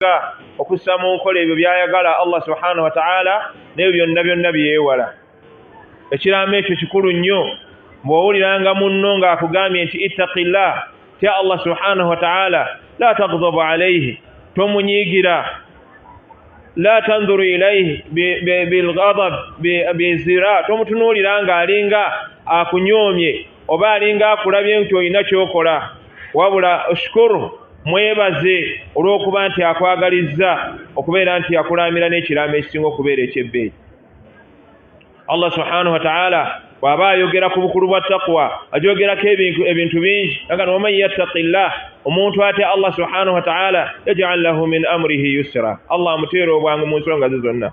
nga okussa mu nkola ebyo by'ayagala allah subhanahu wataala n'ebyo byonna byonna byewala ekiraamo ekyo kikulu nnyo bw'owuliranga munno ng'akugambye nti ittaqillah tya allah subhanahu wataala la tagdabu alaihi tomunyiigira la tanzuru ilaihi bilgadab bizira tomutunuulira ng'alinga akunyoomye oba alinga akulabye nti olina kyokola wabula shukuru mwebaze olw'okuba nti akwagalizza okubeera nti yakulaamira n'ekiraamo ekisinga okubeera ekyebbeeyi allah subhanahu wataala bw'aba ayogera ku bukulu bwa taqwa agyogerako ebintu bingi aga ni waman yattaqi llah omuntu atya allah subhanahu wataala yajal lahu min amurihi yusira allah amuteera obwangu mu nsonga ze zonna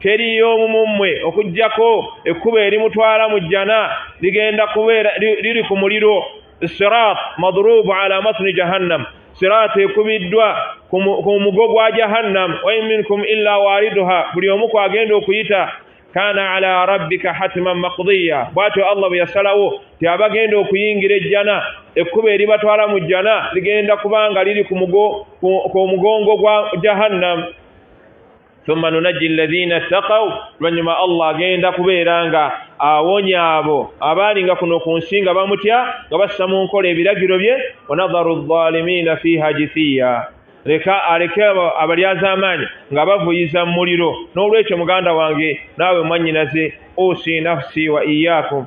teri y'omu mu mmwe okuggyako ekkubo erimutwala mu jjana ligenda kubeera liri ku muliro sirat madrubu ala matni jahannam sirat ekubiddwa ku mugo gwa jahannam wain minkum illa wariduha buli omu kwagenda okuyita kana ala rabbika hatiman makdiya bwatyo allah bwe yasalawo ti abagenda okuyingira ejjana ekkubo eribatwala mu jjana ligenda kubanga liri ku mugongo gwa jahannam thumma nunajji alladhina ttaqaw oluvanyuma allah agenda kubeera nga awonya abo abaali nga kuno ku nsi nga bamutya nga bassa mu nkola ebiragiro bye wanadharu ldhalimiina fiiha jithiya leka aleke abalyazaamaanyi nga bavuyiza mu muliro n'olwekyo muganda wange naawe mwannyinaze usi nafsi wa iyaakum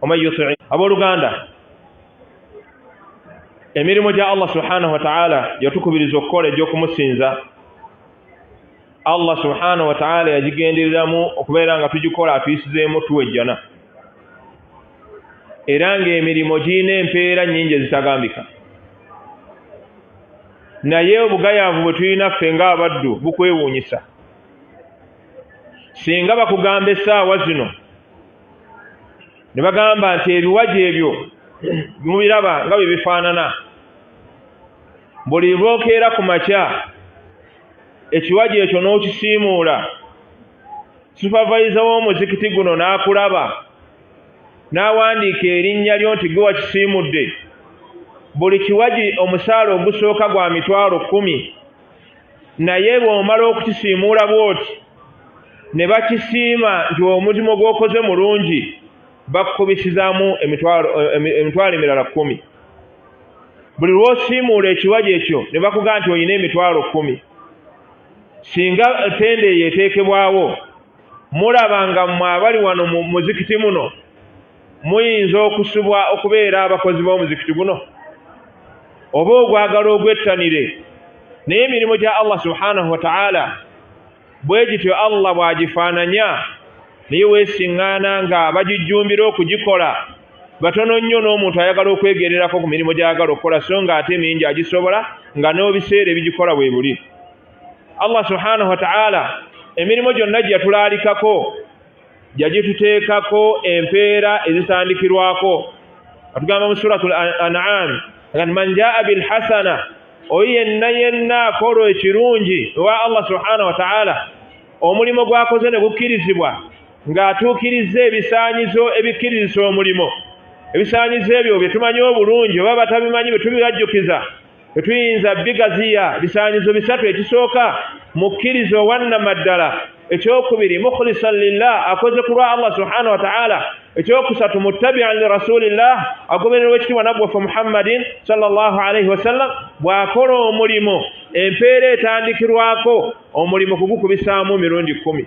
waman yutii abooluganda emirimu gya allah subhanahu wataala yatukubiriza okukola egy'okumusinza allah subhanahu wataala yagigendereramu okubeera nga tugikola atuyisizeemu tuwejjana era ng'emirimu girina empeera nnyingi ezitagambika naye obugayaavu bwe tulina ffe ng'abaddu bukwewuunyisa singa bakugamba essaawa zino ne bagamba nti ebiwaji ebyo mubiraba nga bye bifaanana buli lwokeera ku makya ekiwaji ekyo n'okisiimuula supavayiza w'omuzikiti guno n'akulaba n'awandiika erinnya lyo nti gwe wakisiimudde buli kiwaji omusaala ogusooka gwa mitwalo kkumi naye bw'omala okukisiimuula bw'oti ne bakisiima nti omulimu gw'okoze mulungi bakukubisizaamu emitwalo eh, emirala kkumi buli lw'osiimuula ekiwaji ekyo ne bakugaa nti olina emitwalo kkumi singa tenda eyo eteekebwawo mulaba nga mwe abali wano mu muzikiti muno Muyinza okusubwa okubeera abakozi b'omuzikiti guno oba ogwagala ogwettanire naye emirimu gya Allah subhanahu wa ta'ala bwe gityo Allah bw'agifaananya naye weesiŋŋaana nga bagijjumbira okugikola batono nnyo n'omuntu ayagala okwegererako ku mirimu gy'ayagala okukola so nga ate mingi agisobola nga n'obiseera ebigikola bwe buli Allah subhanahu wa ta'ala emirimu gyonna gye yatulaalikako yagituteekako empeera ezitandikirwako atugamba mu surat anam agati man jaa bilhasana oyo yenna yenna akolwa ekirungi ewa allah subhanahu wataala omulimu gwakoze ne gukkirizibwa ng'atuukirizza ebisaanyizo ebikkirizisa omulimu ebisaanyizo ebyo bye tumanyi obulungi oba batabimanyi bye tubibajjukiza tetuyinza bigaziya bisaanyizo bisatu ekisooka mukkiriza owannamaddala ekyokubiri mukhlisan lillah akoze ku lwa allah subhanahu wataala ekyokusatu muttabian li rasulillah agobererwa ekitiibwa naggwaffe muhammadin salllah alaihi wasallam bw'akola omulimu empeera etandikirwako omulimu kugukubisaamu mirundi kkumi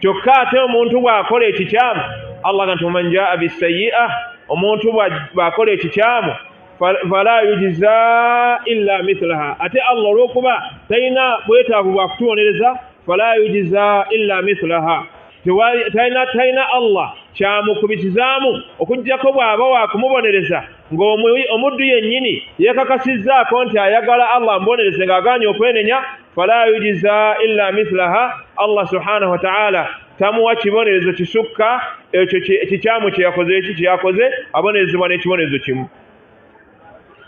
kyokka ate omuntu bw'akola ekikyamu allah ga nti waman jaa bisayi'a omuntu bw'akola ekikyamu fala yujiza illa mithlaha ate allah olw'okuba talina bwetaavu bwa kutubonereza fala yujiza illa mithlaha talina talina allah kyamukubisizaamu okugyako bw'aba wa kumubonereza ng'omuddu yennyini yeekakasizzaako nti ayagala allah amubonereze ng'agaanye okwenenya fala yujiza illa mithlaha allah subhanahu wataala tamuwa kibonerezo kisukka ekyo kikyamu kyeyakoze eki kyeyakoze abonerezebwa n'ekibonerezo kimu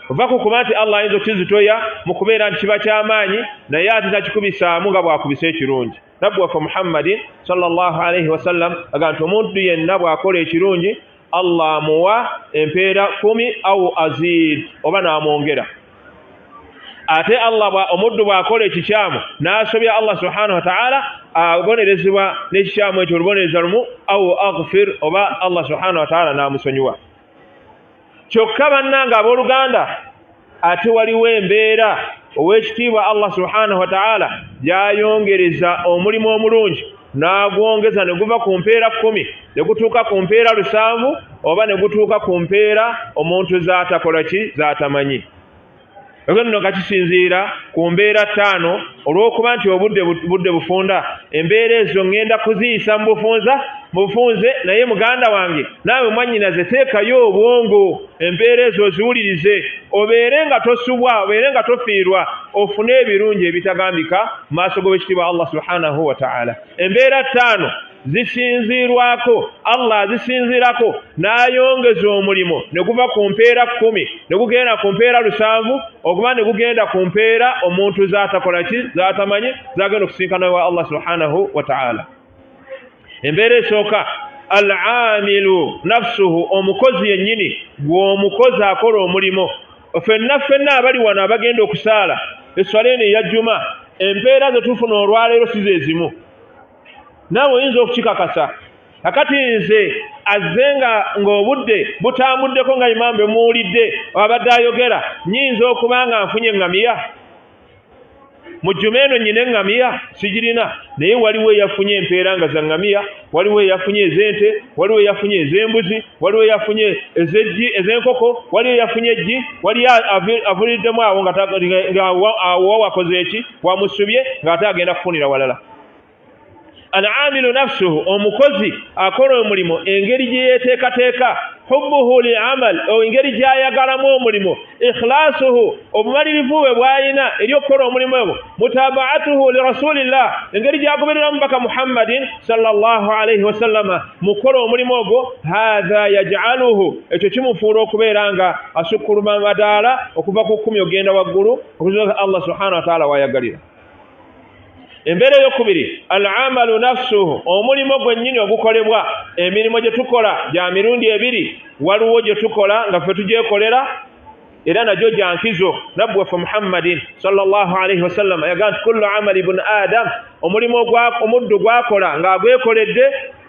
ova ku kuba nti allah ayinza okukizitoya mu kubeera nti kiba ky'amaanyi naye ate takikubisaamu nga bwakubisa ekirungi nabbi waffe muhammadin salllah alaihi wasallam aga nti omuntu yenna bw'akola ekirungi allah amuwa empeera kumi au azid oba n'amwongera ate allah omuddu bw'akola ekikyamu n'asobya allah subhanahu wataala abonerezebwa n'ekikyamu ekyo olubonereza lumu au agfir oba allah subhanahu wataala n'amusonyiwa kyokka bannanga ab'oluganda ate waliwo embeera ow'ekitiibwa allah subhanahu wataala gyayongereza omulimu omulungi n'agwongeza ne guva ku mpeera kkumi ne gutuuka ku mpeera lusanvu oba ne gutuuka ku mpeera omuntu z'atakola ki z'atamanyi ekyo nno nga kisinziira ku mbeera ttaano olw'okuba nti obudde budde bufunda embeera ezo ŋŋenda kuziyisa mu bufunza mu bufunze naye muganda wange naawe mwannyinaze teekayo obwongo embeera ezo oziwulirize obeere nga tosubwa obeere nga tofiirwa ofune ebirungi ebitagambika mu maaso g'owekitiibwa allah subhanahu wataala embeera ttaano zisinziirwako allah azisinziirako n'ayongeza omulimu ne guva ku mpeera kkumi ne gugenda ku mpeera lusanvu okuba ne gugenda ku mpeera omuntu z'atakola ki z'atamanyi z'agenda okusinkana wa allah subhanahu wa taala embeera esooka al amilu nafsuhu omukozi yennyini gw'omukozi akola omulimu fenna fenna abali wano abagenda okusaala esswala eno eya jjuma empeera ze tufuna olwaleero si ze zimu naawe oyinza okukikakasa akati nze azze nga ng'obudde butambuddeko nga imaambe muwulidde abadde ayogera nyinza okuba nga nfunye eŋŋamiya mu jjuma eno nyina eŋŋamiya sigirina naye waliwo eyafunye empeera nga za ŋŋamiya waliwo eyafunye ez'ente waliwo eyafunye ez'embuzi waliwo eyafunye ezeggi ez'enkoko waliwo eyafunye eggi waliyo avuliriddemu awo ngaawo wakoze eki wamusubye ng'ate agenda kufunira walala alamilu nafsuhu omukozi akola omulimu engeri gye yeteekateeka hubbuhu li amal engeri gyayagalamu omulimu ikhlasuhu obumalirivu bwe bwalina eri okukola omulimu ebwo mutabaatuhu li rasulillah engeri gyagoberera mubaka muhammadin salllah alaihi wasallama mu kukola omulimu ogwo hatha yajaluhu ekyo kimufuula okubeera nga asukkuluma madaala okuva ku kkumi okugenda waggulu okuzuka allah subhanahu wataala wayagalira embeera eyokubiri al amalu nafsuhu omulimu gwennyini ogukolebwa emirimu gye tukola gya mirundi ebiri waliwo gye tukola nga ffe tugyekolera era nagyo gya nkizo nabbi waffe muhammadin salllahu alaihi wasallama yaga nti kullu amali bun adam omulimu omuddu gwakola ng'agwekoledde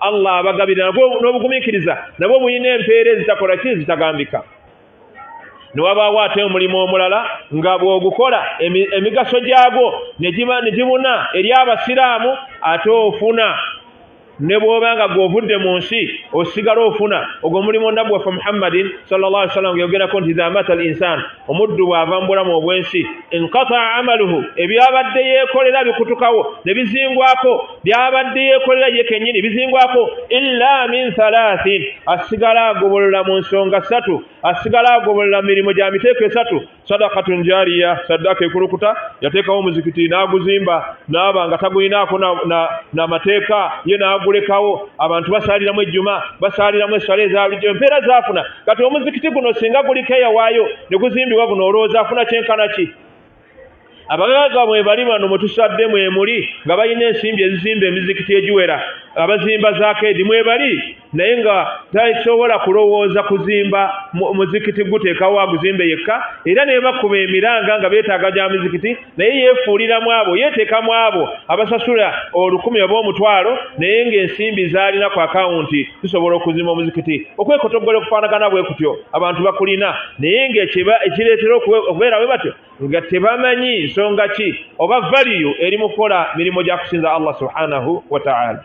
allah abagabira n'obugumiikiriza nabwo bulina empeera ezitakola ki ezitagambika newabaawo ate omulimu omulala nga bw'ogukola emigaso gyagwo ne gibuna eri abasiraamu ate ofuna ne bwoba nga gwovudde mu nsi osigala ofuna ogwo mulimu nabbi waffe muhammadin sal llah ali sallam geyogerako nti idha mata al insan omuddu bw'ava mu bulamu obw'ensi enkata amaluhu ebyabadde yeekolera bikutukawo ne bizingwako byabadde yeekolera ye kennyini bizingwako illa min thalathin asigala agobolola mu nsonga ssatu asigala agobolola mu mirimu gya miteeko esatu sadakatun jariya saddaaka ekulukuta yateekawo omuzikiti n'aguzimba n'aba nga tagulinaako n'amateeka ye n'agulekawo abantu basaaliramu ejjuma basaaliramu esswala eza bulijjo empeera zaafuna kati omuzikiti guno singa guliko eyawaayo ne guzimbibwa guno olowooza afuna kyenkana ki abagagga mwe bali bano mwe tusadde mwe muli nga balina ensimbi ezizimba emizikiti egiwera abazimba zakeedi mwe bali naye nga tasobola kulowooza kuzimba muzikiti guteekawo aguzimbe yekka era nebakuba emiranga nga beetaaga gya mizikiti naye yeefuulira mu abo yeeteeka mu abo abasasula olukumi oba omutwalo naye ng'ensimbi zaalina ku akawunti zisobola okuzima omuzikiti okwekotoggola okufaanagana bwe kutyo abantu bakulina naye ng'ekireetera okubeera bwe batyo nga tebamanyi nsonga ki oba valiyu eri mu kukola mirimu gya kusinza allah subhanahu wataala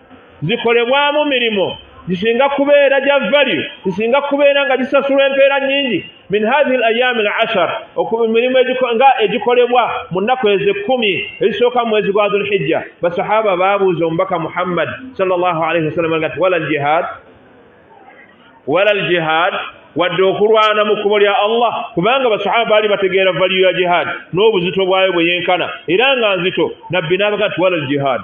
zikolebwamu mirimu gisinga kubeera gya value gisinga kubeera nga gisasulwa empeera nyingi min hathihi l ayami l ashar mirimu nga egikolebwa mu nnaku ezo ekkumi ezisooka mu mwezi gwa dhulhijja basahaba baabuuza omubaka muhammad sal llah alaihi wasallam nga ti wala ljihad wala ljihad wadde okulwana mu kkubo lya allah kubanga basahaba baali bategeera valiyo ya jihaadi n'obuzito bwayo bwe yenkana era nga nzito nabbi n'abaga nti wala jihaadi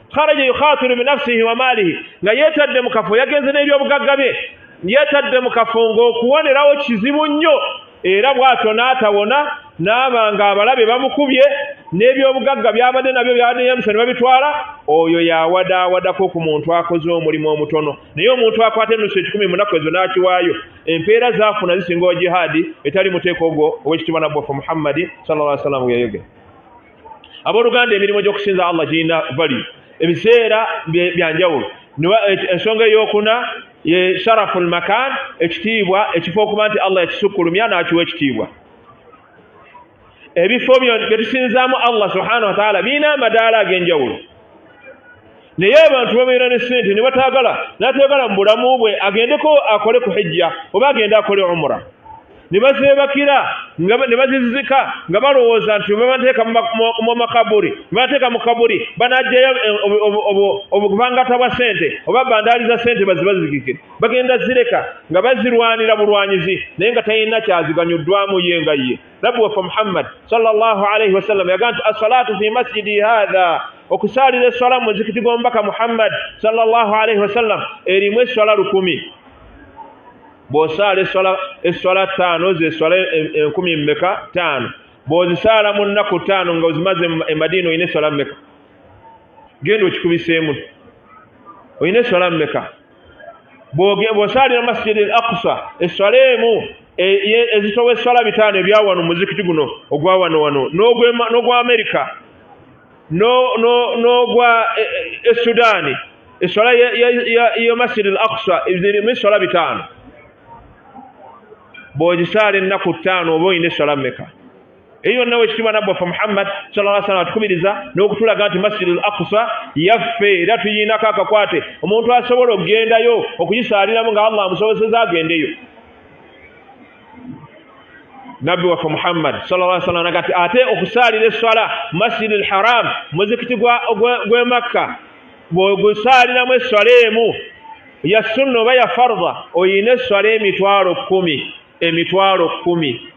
kharaja yukhatiru binafsihi wa maalihi nga yeetadde mu kafo yagenze n'ebyobugagga bye yeetadde mu kafo ng'okuwonerawo kizibu nnyo era bw'atyo n'atawona n'aba nga abalabe bamukubye n'ebyobugagga byabadde nabyo byabadde yamusa ne babitwala oyo yawadawadako ku muntu akoze omulimu omutono naye omuntu akwata enusu ekikumi munaku ezo n'akiwaayo empeera zaafuna zisinga owa jihaadi etali muteeko ogwo ow'ekitibwa nabbofu muhammadi salla aa sallam weyayogera abooluganda emirimu gy'okusinza allah girina vali ebiseera byanjawulo ensonga eyokuna ye sharafu lmakan ekitiibwa ekifo okuba nti allah yakisukkulumya n'akiwa ekitiibwa ebifo byo bye tusinzaamu allah subhanahu wataala birina amadaala ag'enjawulo naye abantu babeera ne sente ne bataagala n'atayagala mu bulamu bwe agendeko akole ku hijja oba agende akole umura ne bazeebakira ne bazizika nga balowooza nti babateeka mu makaburi babateeka mu kaburi banajjayo eh, obuvangata bwa sente oba bandaali za sente bazibazigike bagenda zireka nga bazirwanira bulwanyizi naye nga talina kyaziganyuddwamu ye nga ye nabbi waffe muhammad salllahu alaihi wasallam yaga nti assalatu fi masjidi hatha okusaalira esswala mu muzikiti gw'omubaka muhammad salllahu alaihi wasallam erimu esswala lukumi bw'osaala esswala ttaano zeswala enkumi mmeka ttaano bw'ozisaala mu nnaku ttaano nga ozimaze emadiina olina esswala mmeka genda okikubiseemu olina esswala mmeka bwosaalira masjidi al aqsa esswala emu e, ezitowa esswala bitaano ebyawano muzikiti guno ogwawano wano n'ogwa amerika n'ogwa e, e, esudaani esswala ya masjidi al aqsa zirimu esswala bitaano bw'ogisaala ennaku ttaano oba olina esswala mmeka eyo yonna wekitiibwa nabbi waffe muhammad salaa sallam atukubiriza n'okutulaga nti masjid al aqsa yaffe era tuyiinako akakwate omuntu asobola okugendayo okugisaaliramu nga allah amusobozeza agendeyo nabbi waffe muhammad salaa sallam nagati ate okusaalira esswala masjid al haram muzikiti gw'e makka bwegusaaliramu esswala emu ya sunna oba ya farda oyina esswala emitwalo kkumi emitwalo kkumi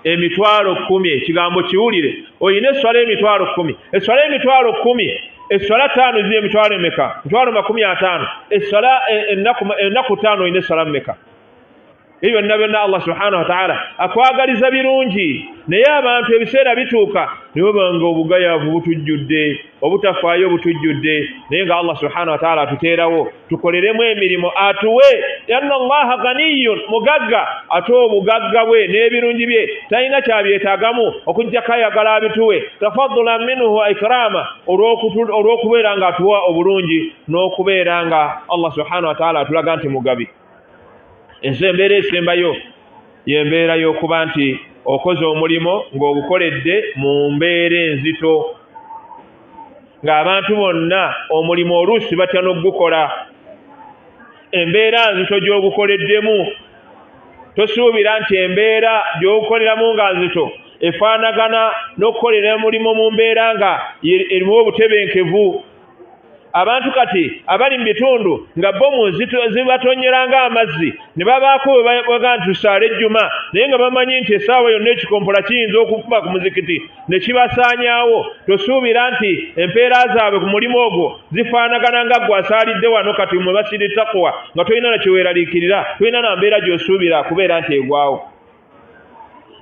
emitwalo kumi ekigambo kiwulire olina eswala emitwalo kumi eswala emitwalo kumi eswala taano ziri emitwalo emeka mitwalo makumi ataano eswala e, ennaku taano olina eswala mumeka ebyo byonna byonna allah subhanahu wataala akwagaliza birungi naye abantu ebiseera bituuka newebanga obugayavu butujjudde obutafaayo butujjudde naye nga allah subhanahu wataala atuteerawo tukoleremu emirimu atuwe anna allaha ganiyun mugagga ate obugagga bwe n'ebirungi bye talina kyabyetagamu okujjako ayagala abituwe tafadula minhu ikraama olw'okubeera nga atuwa obulungi n'okubeera nga allah subhanahu wataala atulaga nti mugabi ensi embeera esembayo yembeera y'okuba nti okoze omulimu ng'ogukoledde mu mbeera enzito ng'abantu bonna omulimu oluusi batya n'okugukola embeera nzito gy'ogukoleddemu tosuubira nti embeera gy'ogukoleramu nga nzito efaanagana n'okukolera omulimu mu mbeera nga erimu obutebenkevu abantu kati abali mu bitundu nga bomu zibatonyera ng'amazzi ne babaako webaga nti tusaale ejjuma naye nga bamanyi nti essaawa yonna ekikompola kiyinza okukuba ku muzikiti ne kibasaanyaawo tosuubira nti empeera zaabwe ku mulimu ogwo zifaanagana nga gwe asaalidde wano kati mwe basiri takuwa nga tolina na kyeweeraliikirira tolina na mbeera gy'osuubira kubeera nti egwawo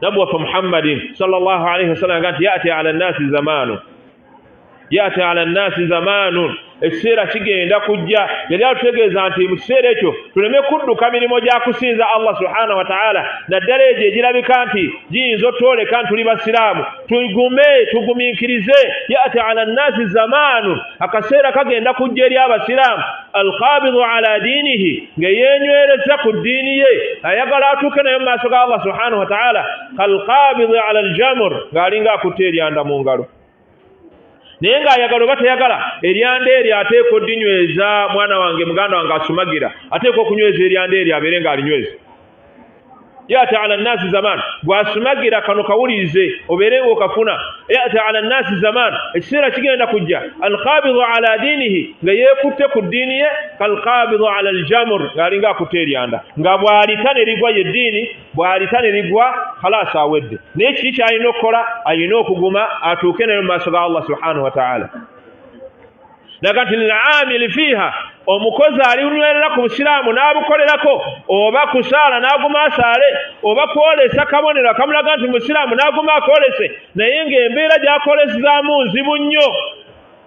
nabbi waffe muhammadin sal llah alaihi wasallam nga nti yati ala nnaasi zamaanu yati ala nnasi zamaanun ekiseera kigenda kujja yali atutegeeza nti mu kiseera ekyo tuleme kudduka mirimu gya kusinza allah subhanahu wataala naddala egyo egirabika nti giyinza otwoleka nti tuli basiraamu tugume tugumiikirize yati ala nnasi zamaanun akaseera kagenda kujja eri abasiraamu alkabidu ala diinihi ng'eyenywereza ku ddiini ye ayagala atuuke naye mu maaso ga allah subhanahu wataala kalkabidu ala aljamur ng'alinga akutte eryanda mu ngalo naye ng'ayagala oba teyagala eryanda eryo ateekwa odinyweza mwana wange muganda wange asumagira ateekwa okunyweza eryanda eryo abeere ng'alinyweza yata ala nnaasi zaman gwasumagira kano kawulirize obeere ng'okafuna yata ala nnaasi zaman ekiseera kigenda kujja alkabidu ala diinihi nga yeekutte ku ddiini ye kalkabidu ala aljamur ng'alinga akutte eryanda nga bw'alita ne ligwa ye ddiini bwalita ne ligwa khalasi awedde naye kiki kyalina okukola alina okuguma atuuke naye mu maaso ga allah subhanahu wataala naga nti lilamili fiiha omukozi alinywerera ku busiraamu n'abukolerako oba kusaala n'aguma asaale oba kwolesa kabonero akamulaga nti musiraamu n'aguma akolese naye ng'embeera gyakolesezaamu nzibu nnyo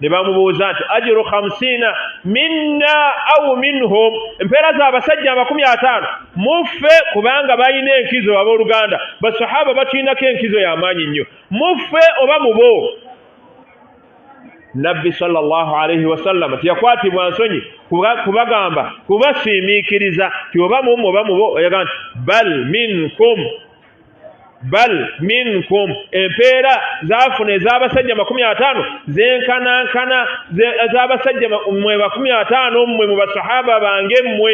ne bamubuuza nti ajiru hamsiina minna au minhum empeera za abasajja amakumi ataano muffe kubanga balina enkizo abooluganda basahaba batulinako enkizo y'amaanyi nnyo muffe oba mubo nabbi sallallahu alaihi wasallama teyakwatibwa nsonyi kubagamba kubasiimiikiriza ti oba mumu oba mubo oyaga nti bal minkum bal minkum empeera zafuna ez'abasajja makumi ataano zenkanankana ez'abasajja mwe bakumi ataano mmwe mu basahaba bange mmwe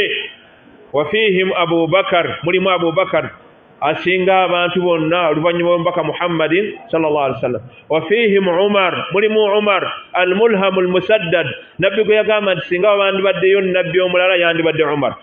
wafihim abubakar mulimu abubakar asinga abantu bonna oluvannyuma lwomubaka muhammadin salllah ali wasallam wafihim umar mulimu umar almulhamu almusaddad nabbi gwe yagamba nti singa wabandibaddeyo nabbi omulala yandibadde umar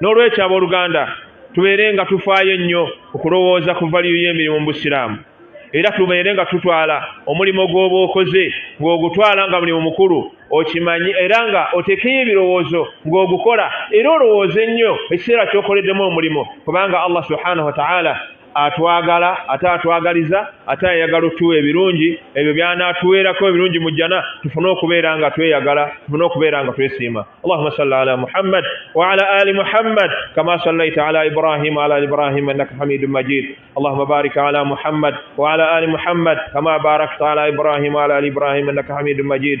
n'olwekyo abooluganda tubeere nga tufaayo ennyo okulowooza ku valiyu y'emirimu mu busiraamu era tubeere nga tutwala omulimu gw'oba okoze ng'ogutwala nga mulimu mukulu okimanyi era nga otekeyo ebirowoozo ng'ogukola era olowooze nnyo ekiseera ky'okoleddemu omulimu kubanga allah subhanahu wataala atwagala ate atwagaliza ate ayagala otuwa ebirungi ebyo byanaatuweerako ebirungi mu jjana tufune okubeera nga tweyagala tufune okubeera nga twesiima allahuma salli ala muhammad waala ali muhammad kama sallaita ala ibrahima ala ibrahima innaka hamidu majid allahuma barik ala muhammad waala ali muhammad kama barakta ala ibrahima ala ali ibrahima innaka hamidu majid